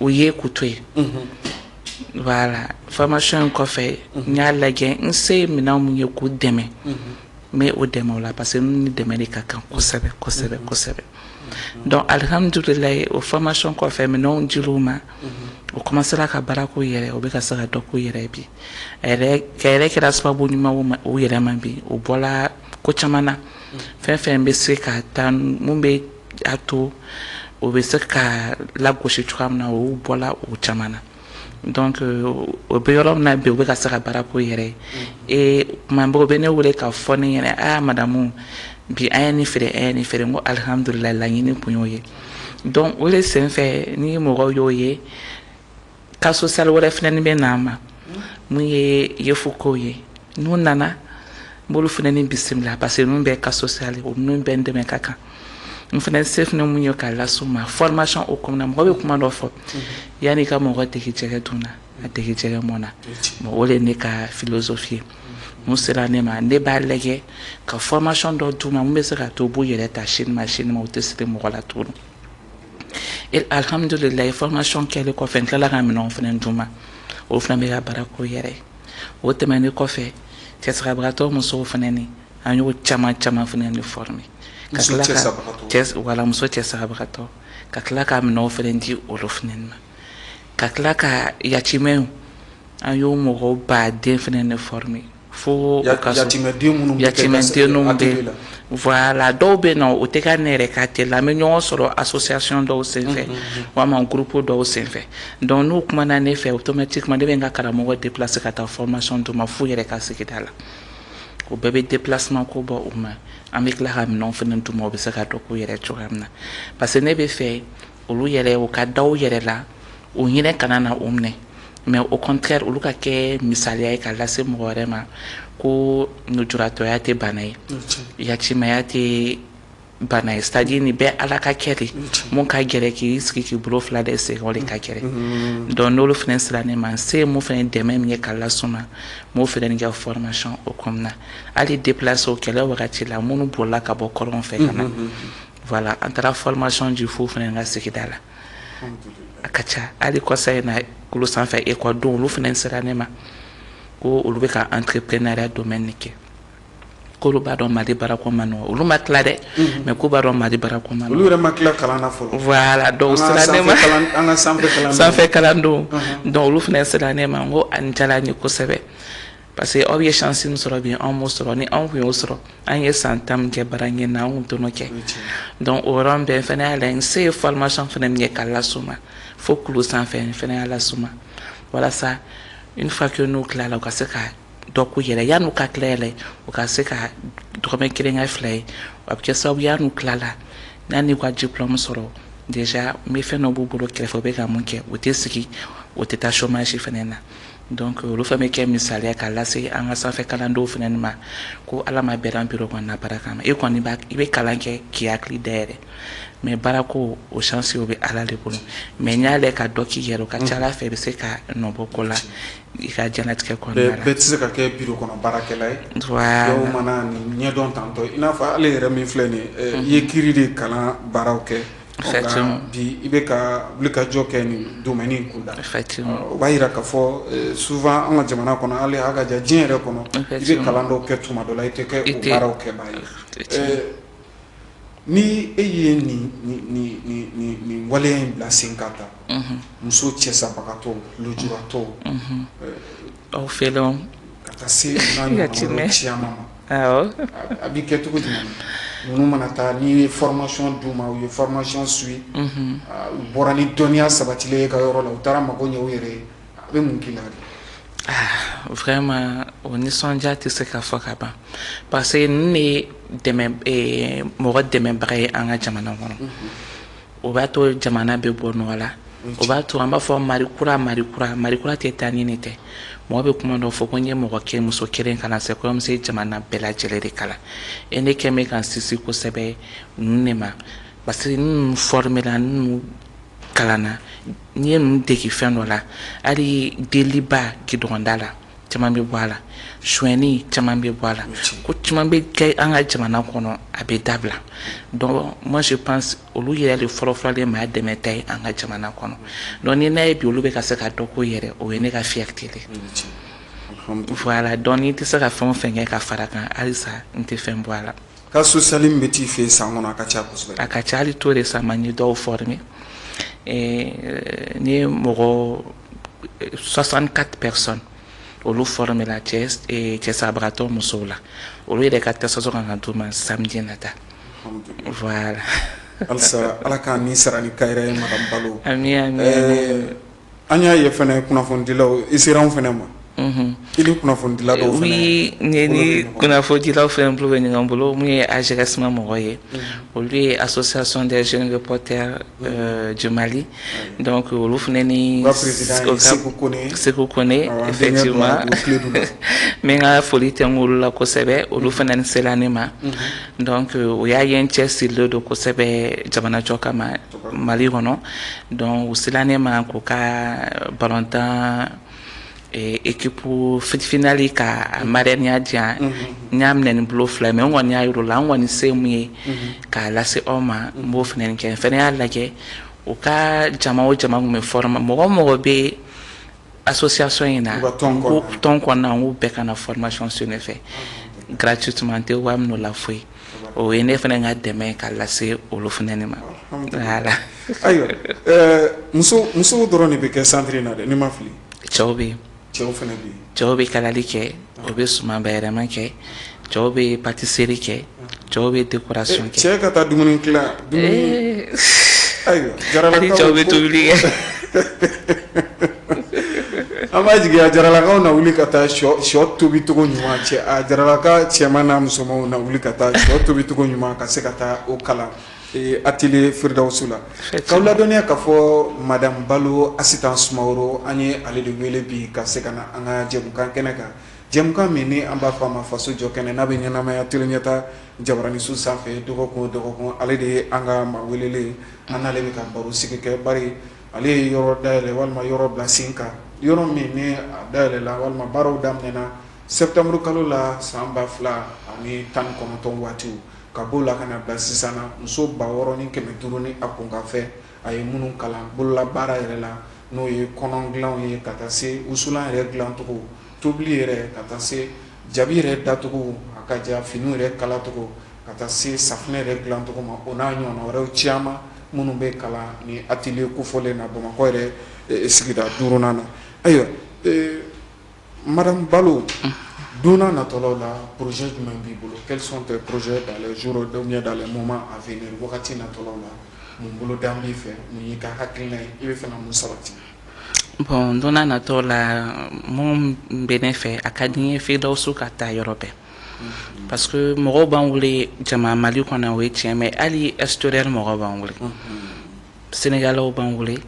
o ye k'u to yen voilà formation in kɔfɛ n y'a lajɛ n se minɛn min ye k'u dɛmɛ n bɛ o dɛmɛ o la parce que ni dɛmɛ de ka kan kosɛbɛ kosɛbɛ kosɛbɛ donc alihamdulayi o formation kɔfɛ minɛnw dil'u ma o kɔmansera ka baara k'o yɛrɛ o bɛ ka se ka dɔ k'o yɛrɛ bi a yɛrɛ kɛra sababu ɲuman o yɛrɛ ma bi o bɔra ko caman na fɛn fɛn bɛ se ka taa min bɛ a to o bɛ se ka lagosi cogoya min na o bɔra o caman na donc o bɛ yɔrɔ min na bi o bɛ ka se ka baara k'o yɛrɛ ye ee tuma bɛɛ o bɛ ne wele k'a fɔ ne ɲɛna aa madamu bi an ye nin feere an ye nin feere n ko alihamudulilayi laɲini kun y'o ye donc o de senfɛ ni mɔgɔw y'o ye Cas social wɛrɛ fɛnɛ ni bɛ na n ma min ye yefugew ye n'u nana n b'olu fɛnɛ ni bisimila parce que ninnu bɛɛ cas social o ninnu bɛɛ dɛmɛ ka kan n fɛnɛ se fɛnɛ min ye k'a las'u ma formation o kɔnɔ mɔgɔ bɛ kuma dɔ fɔ yan'i ka mɔgɔ dege jɛgɛ dun na a dege jɛgɛ mɔn na bon o de ye ne ka philosophie ye min sera ne ma ne b'a lajɛ ka formation dɔ d'u ma min bɛ se k'a to u b'u yɛrɛ ta sini ma sini ma o tɛ siri mɔgɔ la tuguni alihamdulilayi formation kɛlen kɔfɛ n tilala ka minɛn fɛnɛ d'u ma olu fɛnɛ bɛ ka baara k'o yɛrɛ o tɛmɛnen kɔfɛ cɛsabagatɔ musow fɛnɛ ni an y'o caman caman fɛnɛ ni former ka voilà muso cɛsabagatɔ ka tila ka minɛn fɛnɛ di olu fɛnɛ ma ka tila ka yatimɛw an y'o mɔgɔw ba den fɛnɛ ni former fo ya, ka yatimɛden minnu yatimɛdenw bɛ voilà dɔw bɛ na o tɛ ka ne yɛrɛ ka tɛ la an bɛ ɲɔgɔn sɔrɔ association dɔw senfɛ walima groupe dɔw senfɛ donc n'u kumana ne fɛ automatiquement ne bɛ n ka karamɔgɔ déplacer ka taa formation d'u ma f'u yɛrɛ ka sigida la o bɛɛ bɛ déplacement ko bɔ u ma an bɛ tila ka minɛnw fana d'u ma u bɛ se ka dɔ k'u yɛrɛ cogoya min na parce que ne b'a fɛ olu yɛrɛ u ka da u yɛrɛ la u hinɛ kana na u minɛ mais au contraire olu ka kɛ misaliya ye ka lase mɔgɔ wɛrɛ ma ko lujuratɔya tɛ bana ye yatimɛya tɛ bana ye c'est à dire nin bɛɛ ala ka kɛ de min ka gɛlɛn k'i sigi k'i bolo fila da i sen o de ka gɛlɛn donc n'olu fana sera ne ma n se min fana dɛmɛ min ye ka las'u ma n b'o fana nin kɛ formation o kɔnɔna na hali déplacés o kɛlɛ wagati la minnu bolila ka bɔ kɔrɔn fɛ ka na voilà an taara formation di f'u fana ka sigida la a ka ca hali kɔsa in na kulu sanfɛ ekɔlidenw olu fana sera ne ma ko olu bɛ ka entrepreneuriat domaine in kɛ k'olu b'a dɔn mali baarako man nɔgɔn olu ma tila dɛ mhm. mais k'u b'a dɔn mali baarako man nɔgɔn olu yɛrɛ ma tila kalan na donc sanfɛ kalandenw mhm. donc olu fana sera ne ma n ko a nin diyara n ye kosɛbɛ Parce que aw ye chance min sɔrɔ bi an m'o sɔrɔ ni anw tun y'o sɔrɔ an ye san 10 min kɛ baara ɲini na an tun t'o kɛ donc o yɔrɔ bɛɛ n fana y'a lajɛ n se ye formation fana min kɛ ka las'u ma fo kulu sanfɛ n fana y'a las'u ma walasa une fois que n'u tilala u ka se ka dɔ k'u yɛrɛ ye yan'u ka tila yɛrɛ u ka se ka dɔrɔmɛ kelen kɛ fila ye a bɛ kɛ sababu ye n'u tilala yanni u ka diplôme sɔrɔ déjà n bɛ fɛn dɔ b'u bolo kɛrɛfɛ u bɛ ka mun kɛ u tɛ sigi u tɛ taa chômage fana na donc olu fana bɛ kɛ misaliya ka lase an ka sanfɛ kalandenw fana ma ko ala ma bɛɛ dan bureau kɔnɔna baara kama e kɔni i bɛ kalan kɛ k'i hakili dayɛlɛ mais baarako o chance o bɛ ala de bolo mais n'i y'a lajɛ ka dɔ k'i yɛrɛ o ka ca ala fɛ i bɛ se ka nɔbɔ ko la i ka diɲɛlatigɛ kɔnɔ bɛɛ tɛ se ka kɛ bureau kɔnɔ baarakɛla ye dɔw mana ɲɛdɔn tantɔ i n'a fɔ ale yɛrɛ min filɛ nin ye i ye kiiri de kalan baaraw kɛ bi i bɛ ka wulikajɔ kɛ nin domaine in kun na o b'a yira k'a fɔ souvent an ka jamana kɔnɔ hali a ka jan diɲɛ yɛrɛ kɔnɔ i bɛ kalan dɔw kɛ tuma dɔ la i tɛ kɛ o baaraw kɛbaa ye ni e ye nin waleya in bila sen ka ta muso cɛsabagatɔw lujuratɔw Aw fɛ dɔn ka taa se n'a ɲɔgɔnna caman ma a bɛ kɛ cogo jumɛn ninnu mana taa n'i ye formation d'u ma u ye formation suivre u bɔra ni dɔnniya sabatilen ye i ka yɔrɔ la u taara mago ɲɛ u yɛrɛ ye a bɛ mun k'i la vraiment o nisɔndiya tɛ se ka fɔ ka ban parce que ninnu de ye mɔgɔ dɛmɛbaga ye an ka jamana kɔnɔ o b'a to jamana bɛ bɔ nɔgɔ la o b'a to an b'a fɔ Mali kura Mali kura Mali kura tɛ taa ni nin tɛ mɔgɔ bɛ kuma dɔ fɔ ko n'i ye mɔgɔ kelen muso kelen kalan c'est comme si jamana bɛɛ lajɛlen de kalan et ne kɛ bɛ ka n sinsin kosɛbɛ ninnu de ma parce que ninnu forme la ninnu kalanna n'i ye ninnu dege fɛn dɔ la hali deliba gidɔrɔn da la caman bɛ bɔ a la suɲɛni caman bɛ bɔ a la ko caman bɛ kɛ an ka jamana kɔnɔ a bɛ dabila donc moi je pense olu yɛrɛ de fɔlɔfɔlɔ de maa dɛmɛta ye an ka jamana kɔnɔ donc ni n y'a ye bi olu bɛ ka se ka dɔ k'u yɛrɛ ye o ye ne ka fierté de ye voilà donc n bɛ se ka fɛn o fɛn kɛ ka fara a kan halisa n tɛ fɛn bɔ a la cas social min bɛ t'i fɛ san kɔnɔ a ka ca a ka ca tout récemment n ye dɔw former n ye mɔgɔ 64 personnes olu forme la cɛ eh, cɛ sabagatɔ musow la olu yɛrɛ ka attestation kan ka d'u ma samedi nata voilà halisa ala k'a ni sara ni kayira ye madame Balo ami ami eh, an y'a ye fana kunnafonidilaw i sera anw fana ma I ni kunnafonidila dɔw fana oui ne ni kunnafonidilaw fɛnɛ bolo bɛ ɲɔgɔn bolo min ye AJRM mɔgɔw ye olu ye association des jeunes reporters euh, du Mali donc olu fɛnɛ n'u ka président ye Seku Kone Seku Kone effectivement n bɛ n ka foli tɛnku olu la kosɛbɛ olu fɛnɛ ni sela ne ma donc u y'a ye n cɛsirilen don kosɛbɛ jamanajɔ kama Mali kɔnɔ donc u sela ne ma k'u ka balontan ekipu fitifinali ka marraineya di yan n y'a minɛ ni n bolo fila mais n kɔni y'a yir'u la n kɔni se min ye k'a lase aw ma n b'o fana kɛ n fana y'a lajɛ u ka jama o jama ko n bɛ former mɔgɔ o mɔgɔ bɛ association in na tɔn kɔnɔna n k'u bɛɛ ka na formation suivre ne fɛ gratuitement n tɛ wari min'u la foyi o ye ne fana ka dɛmɛ ka lase olu fana de ma ayiwa musow dɔrɔn de bɛ kɛ santiri in na dɛ ni n ma fili cɛw bɛ cɛw bɛ kalali kɛ u bɛ suman bayɛlɛma kɛ cɛw bɛ patiseri kɛ cɛw bɛ dekorasiyɔn kɛ cɛ ka taa dumuni ayiwa cɛw bɛ tobili kɛ an b'a jigi a jaralakaw na wuli ka taa shɔ tobicogo ɲuman cɛ a jaralaka cɛman n'a musomanw na wuli ka taa shɔ tobicogo ɲuman ka se ka taa o kalan atelier Firdawusu la k'aw ladɔnniya k'a fɔ madame Balo Asitan Sumaworo an ye ale de wele bi ka se ka na an ka jɛmukan kɛnɛ kan jɛmukan min ni an b'a fɔ a ma faso jɔ kɛnɛ n'a bɛ ɲɛnamaya tele Ɲɛta jabaraninso sanfɛ dɔgɔkun o dɔgɔkun ale de ye an ka maa welelen an n'ale bɛ ka baro sigi kɛ ba ye Ale ye yɔrɔ dayɛlɛ walima yɔrɔ bila sen kan yɔrɔ min ni a dayɛlɛla walima baaraw daminɛna sɛtanburukalo la san ba fila ani tan kɔnɔntɔn waatiw ka b'o la ka na bila sisan na muso ba wɔɔrɔ ni kɛmɛ duuru ni a kunkanfɛn a ye minnu kalan bolola baara yɛrɛ la n'o ye kɔnɔn dilanw ye ka taa se wusulan yɛrɛ dilancogo Tobili yɛrɛ ka taa se jabi yɛrɛ dacogo a ka jan finiw yɛrɛ kalacogo ka taa se safunɛ yɛrɛ dilancogo ma o n'a ɲɔgɔnna wɛrɛw caman minnu bɛ kalan ni atelier kofɔlen na Bamakɔ yɛrɛ sigida duurunan na ayiwa madame Balo don n'a natɔlaw la projet jumɛn b'i bolo quels sont tes projets dans les jours ou bien dans les moments à venir wagati natɔlaw la mun boloda b'i fɛ mun y'i ka hakilina ye i bɛ fɛ ka mun sabati. bon don n'a natɔw la min bɛ ne fɛ a ka di n ye Firdawusu ka taa yɔrɔ bɛɛ parce que mɔgɔw b'an wele jama Mali kɔnɔ o ye tiɲɛ mais hali extérieur mɔgɔw b'an wele Sénégalaisw b'an wele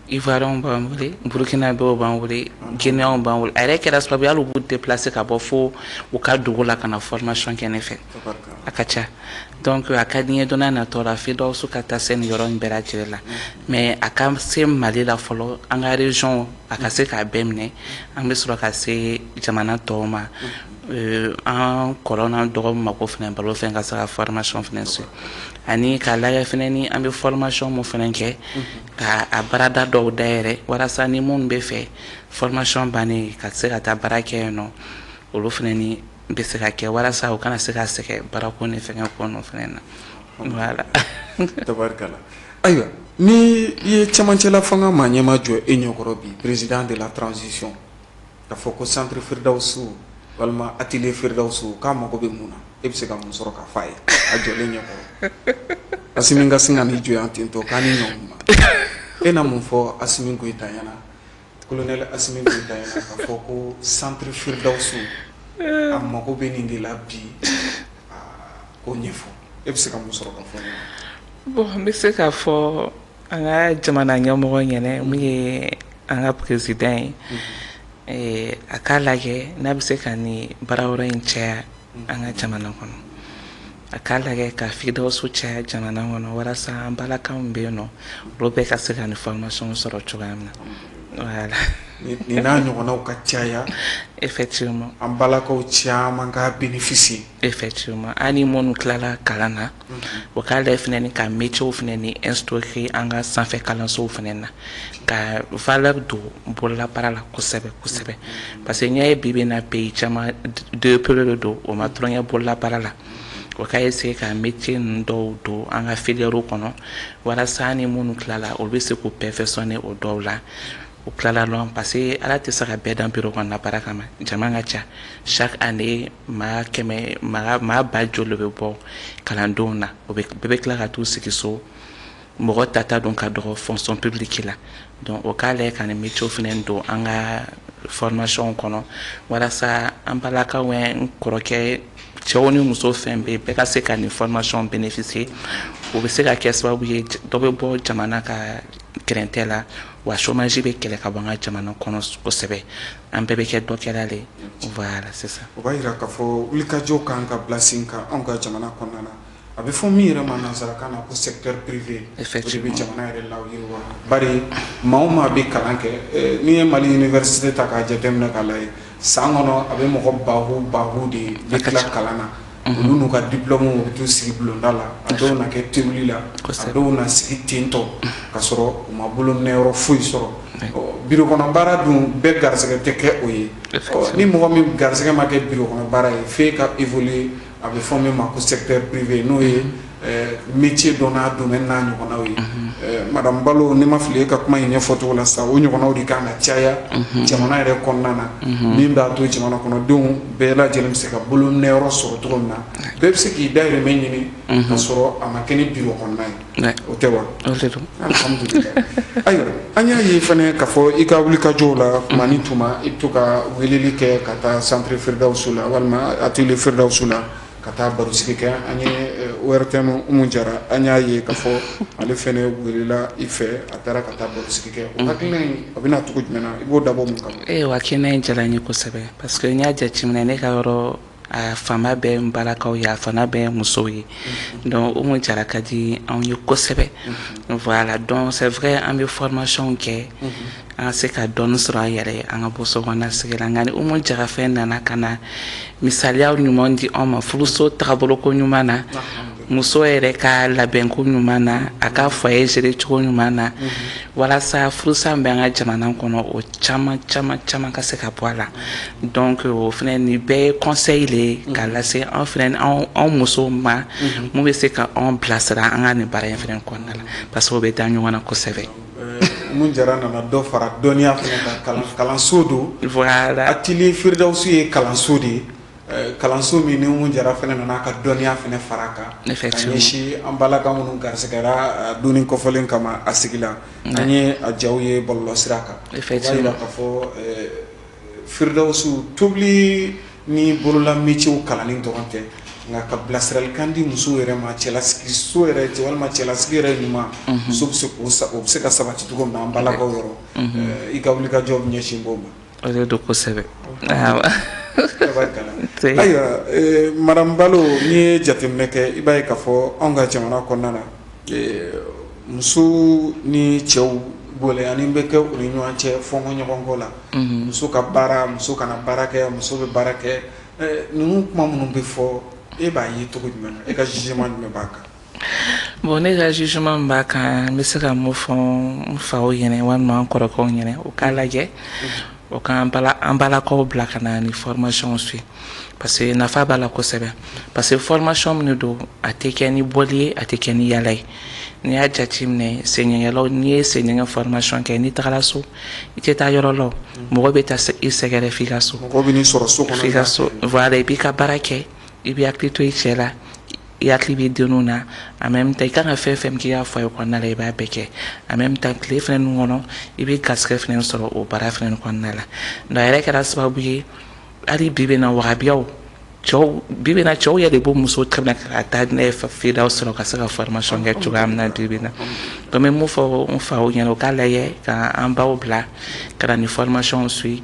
Ivoirienw b'an wele Burkinabéw b'an wele Guinéenw b'an wele a yɛrɛ kɛra sababu ye hali u b'u déplacer ka bɔ fo u ka dugu la ka na formation kɛ ne fɛ a ka ca donc a ka di n ye don n'a natɔ la Firdawusu ka taa se nin yɔrɔ in bɛɛ lajɛlen la mais a ka se Mali la fɔlɔ an ka région a ka se k'a bɛɛ minɛ an bɛ sɔrɔ ka se jamana tɔw ma euh, an kɔrɔ n'an dɔgɔw mako fana balo fɛnɛ ka se ka formation fana se ani k'a lajɛ fana ni an bɛ formation min fana kɛ ka a baarada dɔw dayɛlɛ walasa ni minnu bɛ fɛ formation bannen ka se ka taa baara kɛ yen nɔ olu fana ni n bɛ se ka kɛ walasa u kana se ka sɛgɛn baarako ni fɛnkɛ ko ninnu fana na voilà tabarikala ayiwa ni i ye cɛmancɛla fanga maa ɲɛma jɔ e ɲɛkɔrɔ bi président de la transition k'a fɔ ko centre Firdawusu walima atelier Firdawusu k'a mago bɛ mun na e bɛ se ka mun sɔrɔ k'a f'a ye a jɔlen ɲɛkɔrɔ Asimi ka sin ka n'i jɔ ten tɔ k'a ni ɲɔgɔn e na mun fɔ Asimi Goyita ɲɛna Colonel Asimi Goyita ɲɛna k'a fɔ ko centre Firdawusu a mago bɛ nin de la bi k'o ɲɛfɔ e bɛ se ka mun sɔrɔ k'a fɔ bon n bɛ se k'a fɔ an ka jamana ɲɛmɔgɔ ɲɛna min ye an ka président ye a k'a lajɛ n'a bɛ se ka nin baarayɔrɔ in caya an ka jamana kɔnɔ a k'a lajɛ ka Firdawusu caya jamana kɔnɔ walasa an balakaw bɛ yen nɔ olu bɛɛ ka se ka nin formation sɔrɔ cogoya min na nin n'a ɲɔgɔnw ka caya effectivement an balakaw caman ka bénéficier effectivement ani minnu tilala kalan na u k'a lajɛ fana ka métierw fana ni instaurer an ka sanfɛ kalansow fana na ka valeur don bolola baara la kosɛbɛ kosɛbɛ parce que n'i y'a ye bi bi in na pays caman développélen don o ma tulon kɛ bololabaara la o ka essayer ka métier ninnu dɔw don an ka filières kɔnɔ walasa ni minnu tilala olu bɛ se k'u perfectionner o dɔw la u tilala dɔrɔn parce que ala tɛ se ka bɛɛ dan bureau kɔnɔna baara kama jama ka ca chaque année maa kɛmɛ maa maa ba joli de bɛ bɔ kalandenw na o bɛ bɛɛ bɛ tila ka t'u sigi so mɔgɔ tata don ka dɔgɔ fonction publique la donc o k'a lajɛ ka nin métier fana don an ka formation kɔnɔ walasa an balakaw n kɔrɔkɛ cɛw ni muso fɛn bɛɛ bɛɛ ka se ka nin formation bénéficier o bɛ se ka kɛ sababu ye dɔ bɛ bɔ jamana ka gɛrɛntɛ la wa chômage bɛ kɛlɛ ka bɔ an ka jamana kɔnɔ kosɛbɛ an bɛɛ bɛ kɛ dɔ kɛla de voilà c'est ça o b'a jira k'a fɔ wulikajɔ kan ka bila sen kan anw ka jamana kɔnɔna na a bɛ fɔ min yɛrɛ ma nansarakan na ko secteur privé de bɛ jamana yɛrɛ layiriwa bari maa o maa bɛ kalan kɛ n'i ye Mali université ta k'a jateminɛ k'a lajɛ san kɔnɔ a bɛ mɔgɔ ba baw de bɛ tila kalan na olu n'u ka diplôme bɛ taa sigi bulonda la a dɔw na kɛ tewuli la dɔw na sigi tentɔ ka sɔrɔ u ma bolominɛyɔrɔ foyi sɔrɔ bureau kɔnɔ baara dun bɛɛ garisɛgɛ tɛ kɛ o ye ni mɔgɔ min garisɛgɛ ma kɛ bureau kɔnɔ baara ye fo ka i a bɛ fɔ min ma ko secteur privé n'o ye métier dɔn n'a domaine n'a ɲɔgɔnnaw ye madame Balo ni n ma fili e ka kuma in ɲɛfɔcogo la sa o ɲɔgɔnnaw de ka na caya jamana yɛrɛ kɔnɔna na min b'a to jamana kɔnɔdenw bɛɛ lajɛlen bɛ se ka bolominɛyɔrɔ sɔrɔ cogo min na bɛɛ bɛ se k'i dahirimɛ ɲini ka sɔrɔ a ma kɛ ni bureau kɔnɔna ye o tɛ wa alhamdulilayi ayiwa an y'a ye fana k'a fɔ i ka wulikajɔw la tuma ni tuma i bɛ to ka weleli kɛ ka taa centre Firidawusu la walima atelier Firidawusu la ka taa barosigi kɛ an ye ORTM Umu Jara an y'a ye k'a fɔ ale fana welela i fɛ a taara ka taa barosigi kɛ o hakilina in a bɛna cogo jumɛn na i b'o dabɔ mun kama ayiwa hakilina in diyara n ye kosɛbɛ parce que n y'a jateminɛ ne ka yɔrɔ a fanba bɛɛ n balakaw ye a fanba bɛɛ musow ye donc Umu Jara ka di anw ye kosɛbɛ voilà donc c'est vrai an bɛ formation kɛ an ka se ka dɔɔnin sɔrɔ an yɛrɛ an ka bɔ sokɔnɔna sigi la nka ni Umu Jara fana nana ka na misaliya ɲuman di an ma furuso taabolo ko ɲuman na muso yɛrɛ ka labɛnko ɲuman na a ka foyer gérer cogo ɲuman na walasa furusa bɛ an ka jamana kɔnɔ o caman caman caman ka se ka bɔ a la donc o fana nin bɛɛ ye conseil de ye k'a lase an fana anw musow ma min bɛ se ka anw bilasira an ka nin baara in fana kɔnɔna la parce que o bɛ da ɲɔgɔn na kosɛbɛ Umu Jara nana dɔ fara dɔnniya kan kalanso don atelier Firidawusu ye kalanso de ye kalanso min ni Umu Jara fana nana ka dɔnniya fana fara kan ka ɲɛsin an balaka minnu garisigɛra don kɔfɔlen kama a sigi la an ye a jaw ye bɔlɔlɔ sira kan o b'a jira k'a fɔ Firdaus tobili ni bolola métier kalanni dɔrɔn tɛ nka ka bilasiralikan di muso yɛrɛ ma cɛlasigi so yɛrɛ cɛ walima cɛlasigi yɛrɛ ɲuman muso bɛ se k' o bɛ se ka sabati cogo min na an balakaw yɔrɔ i ka wulikajɔ ɲɛsin b'o ma O de don kosɛbɛ ayiwa madame Balo n'i ye jateminɛ kɛ i b'a ye k'a fɔ anw ka jamana kɔnɔna na muso ni cɛw gɛlɛya nin bɛ kɛ u ni ɲɔgɔn cɛ fɔɲɔgɔnkɔ la muso ka baara muso kana baara kɛ muso bɛ baara kɛ ninnu kuma minnu bɛ fɔ e b'a ye cogo jumɛn na e ka jugement jumɛn b'a kan bon ne ka jugement min b'a kan n bɛ se ka mun fɔ n faw ɲɛna walima n kɔrɔkɛw ɲɛna u k'a lajɛ u ka an balakaw bila ka na ni formation suit parce que nafa b'a la kosɛbɛ parce que formation min de don a tɛ kɛ ni boli ye a tɛ kɛ ni yaala ye n'i y'a jateminɛ senɲɛgɛnlaw n'i ye senɲɛgɛn formation kɛ n'i tagara so i tɛ taa yɔrɔ la mɔgɔ bɛ taa i sɛgɛrɛ f'i ka so mɔgɔ bɛ n'i sɔrɔ so kɔnɔ f'i ka so voilà i b'i ka baara kɛ I bɛ hakili to i cɛ la i hakili b'i denw na en même temps i ka kan ka fɛn fɛn k'i ka foyer kɔnɔna la i b'a bɛɛ kɛ en même temps tile fana nin kɔnɔ i bɛ garisɛgɛ fana sɔrɔ o baara fana kɔnɔna la donc a yɛrɛ kɛra sababu ye hali bi bi in na wahabiyaw cɛw bi bi in na cɛw yɛrɛ de b'u muso tɛmɛ ka taa n'a ye Firdaus sɔrɔ ka se ka formation kɛ cogoya min na bi bi in na donc n bɛ mun fɔ n faw ɲɛna u k'a lajɛ ka an baw bila ka na ni formation suit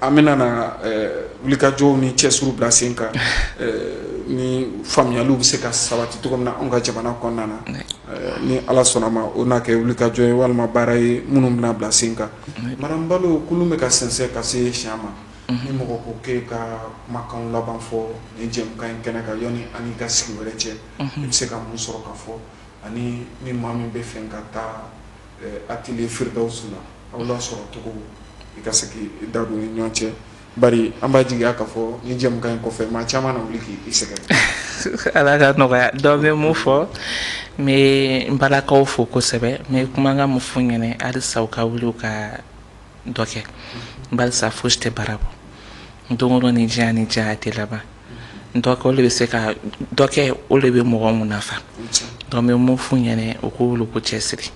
an bɛna na wulikajɔw ni cɛsiriw bila sen kan ni faamuyaliw bɛ se ka sabati cogo min na an ka jamana kɔnɔna na ni ala sɔnna ma o n'a kɛ wulikajɔ ye walima baara ye minnu bɛna bila sen kan madame Balo kulun bɛ ka sɛnsɛn ka se si ma ni mɔgɔ ko k'e ka kumakan laban fɔ ni jɛmukan in kɛnɛ kan yanni an ka sigi wɛrɛ cɛ i bɛ se ka mun sɔrɔ ka fɔ ani ni maa min bɛ fɛ ka taa atelier Firdaus la aw lasɔrɔ cogo i ka se k'i da don ni ɲɔgɔn cɛ bari an b'a jigi k'a fɔ ni jɛmukan in kɔfɛ maa caman na wuli k' i sɛgɛrɛ ala ka nɔgɔya donc n bɛ mun fɔ n bɛ n balakaw fo kosɛbɛ n bɛ kumakan mun f'u ɲɛna halisa u ka wuli u ka dɔ kɛ barisa fosi tɛ baara bɔ don o don ni diya ni diya tɛ laban dɔw de bɛ se ka dɔ kɛ o de bɛ mɔgɔ munafa donc n bɛ mun f'u ɲɛna u k'u wuli k'u cɛ siri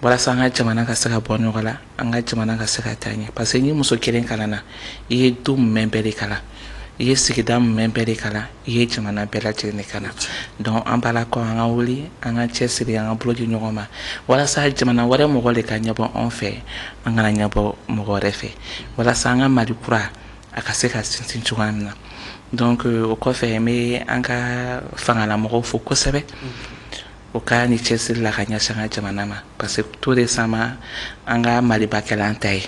walasa an ka jamana ka se ka bɔ nɔgɔ la an ka jamana ka se ka taa ɲɛ parce que ni muso kelen kalanna i ye du mumɛ bɛɛ de kalan i ye sigida mumɛ bɛɛ de kalan i ye jamana bɛɛ lajɛlen de kalan donc an balakaw an ka wuli an ka cɛ siri an ka bolo di ɲɔgɔn ma walasa jamana wɛrɛ mɔgɔ de ka ɲɛbɔ anw fɛ an kana ɲɛbɔ mɔgɔ wɛrɛ fɛ walasa an ka mali kura a ka se ka sinsin cogoya min na donc o kɔfɛ n bɛ an ka fangalamɔgɔw fo kosɛbɛ o ka nin cɛsiri la ka ɲɛsin an ka jamana ma parce que tout récemment an ka maliba kɛla an ta ye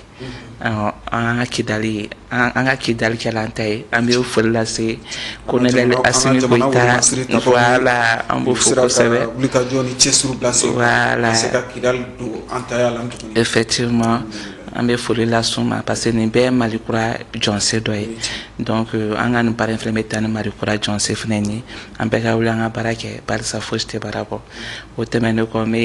an ka kidali an ka kidali kɛla an ta ye an bɛ foli lase colonel Asimi Goyita voilà an b'o fo kosɛbɛ wulikajɔ ni cɛsiriw bila sen kan ka se ka kidali don an ta ya la tuguni effectivement an bɛ foli las'u ma parce que nin bɛɛ ye Mali kura jɔsen dɔ ye donc an ka nin baara in fana bɛ taa ni Mali kura jɔsen fana ye An bɛɛ ka wuli an ka baara kɛ barisa fosi tɛ baara bɔ o tɛmɛnen kɔ n bɛ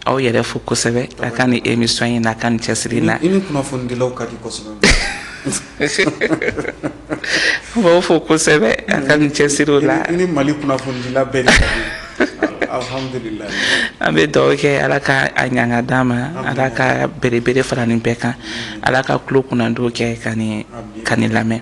aw yɛrɛ fo kosɛbɛ a ka nin émission in n'a ka nin cɛsiri in na i ni kunnafonidilaw ka di kosɛbɛ n b'aw fo kosɛbɛ a ka nin cɛsiriw la i ni Mali kunnafonidila bɛɛ de ka di alhamdulilayi an bɛ dugawu kɛ Ala ka a ɲanga d'an ma Ala ka belebele fara nin bɛɛ kan Ala ka tulo kunnandiw kɛ ka nin lamɛn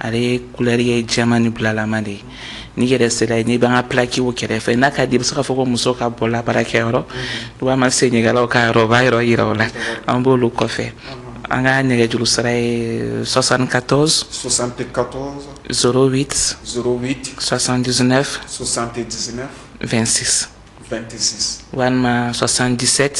ale ye kulɛri ye jɛman ni bulalama de ye n'i yɛrɛ sera yen n'i b'an ka pilakiw kɛrɛfɛ n'a ka di i bɛ se k'a fɔ ko muso ka bolola baarakɛyɔrɔ walima senegalɛw ka yɔrɔ b'a yɔrɔ yira o la an b'olu kɔfɛ an ka nɛgɛjuru sira ye soixante-quatorze zéro huit soixante-dix-neuf vingt-six walima soixante-dix-sept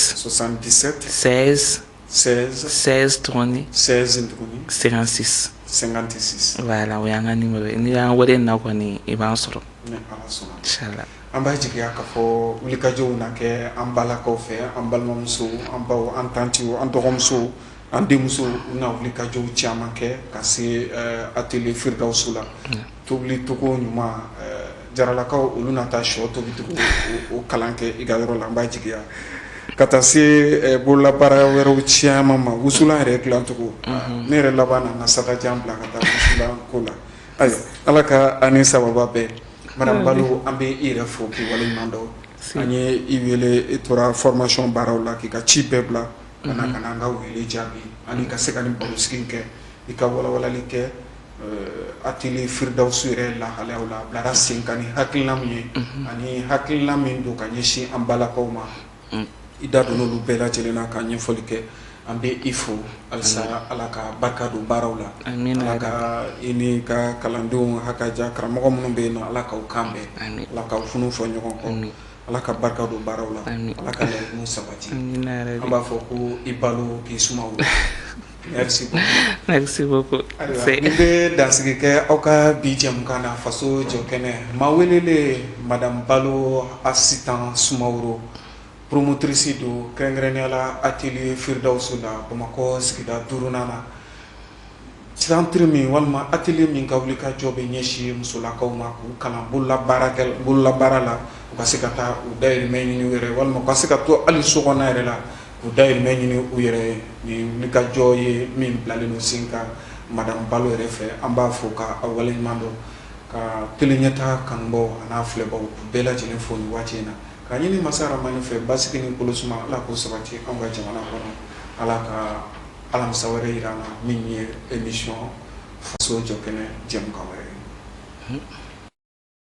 sɛ 16 16 tuguni 16 tuguni 56 56 voilà o y'an ka nimero ye n'i y'an wele in na kɔni i b'an sɔrɔ ni ala sɔnna inshallah an b'a jigiya k'a fɔ wulikajɔw na kɛ an balakaw fɛ an balimamusow an baw an tantiw an dɔgɔmusow an denmusow u na wulikajɔw caman kɛ ka se eh, atelier firidawusu la Tobilicogo ɲuman jaralakaw olu na taa shɔ tobicogo o kalan kɛ i ka yɔrɔ la an b'a jigiya ka taa se bolola baara wɛrɛ caman ma wusulan yɛrɛ dilancogo ne yɛrɛ laban nana sa jan bila ka taa wusulan ko la ayiwa ala ka an ni sababu bɛn madame Balo an bɛ i yɛrɛ fo k'i waleɲuman dɔn an ye i wele e tora formation baaraw la k'i ka ci bɛɛ bila ka na an ka wele jaabi ani ka se ka nin barosigi kɛ i ka wawalan kɛ Atelier Firidawusu yɛrɛ lahalayaw la a bilara senkan ni hakilina min ye ani hakilina min don ka ɲɛsin an balakaw ma i da don olu bɛɛ lajɛlen na ka ɲɛfɔli kɛ an bɛ i fo halisa ala ka barika don baaraw la ala ka i ni ka kalandenw hakaja karamɔgɔ minnu bɛ yen ala k'aw kan bɛn ala k'aw funu fɔ ɲɔgɔn kɔ ala ka barika don baaraw la ala ka laɲiniw sabati an b'a fɔ ko i Balo k'i Suma Merci beaucoup. Merci beaucoup. Ayiwa n bɛ dansigi kɛ aw ka bi jɛmukan na faso jɔ kɛnɛ maa welelen madame Balo Asitan Sumaworo promotrice don kɛrɛnkɛrɛnnenya la atelier Firidawusu la Bamakɔ sigida duurunan na centre min walima atelier min ka wulikajɔ bɛ ɲɛsin musolakaw ma k'u kalan bololabaara la u ka se ka taa u dayirimɛ ɲini u yɛrɛ ye walima u ka se ka to hali sokɔnɔna yɛrɛ la U dayirimɛ ɲini u yɛrɛ ye nin wulikajɔ ye min bilalen don senkan madame Balo yɛrɛ fɛ an b'a fo ka a waleɲuman dɔn ka tele Ɲɛta kanubaw a n'a filɛbaw bɛɛ lajɛlen fo nin waati in na k'a ɲini masa Rahamani fɛ basigi ni kolosuma ala k'o sabati anw ka jamana kɔnɔ ala ka alamisa wɛrɛ jira an na min ye émission faso jɔ kɛnɛ jɛmukan wɛrɛ ye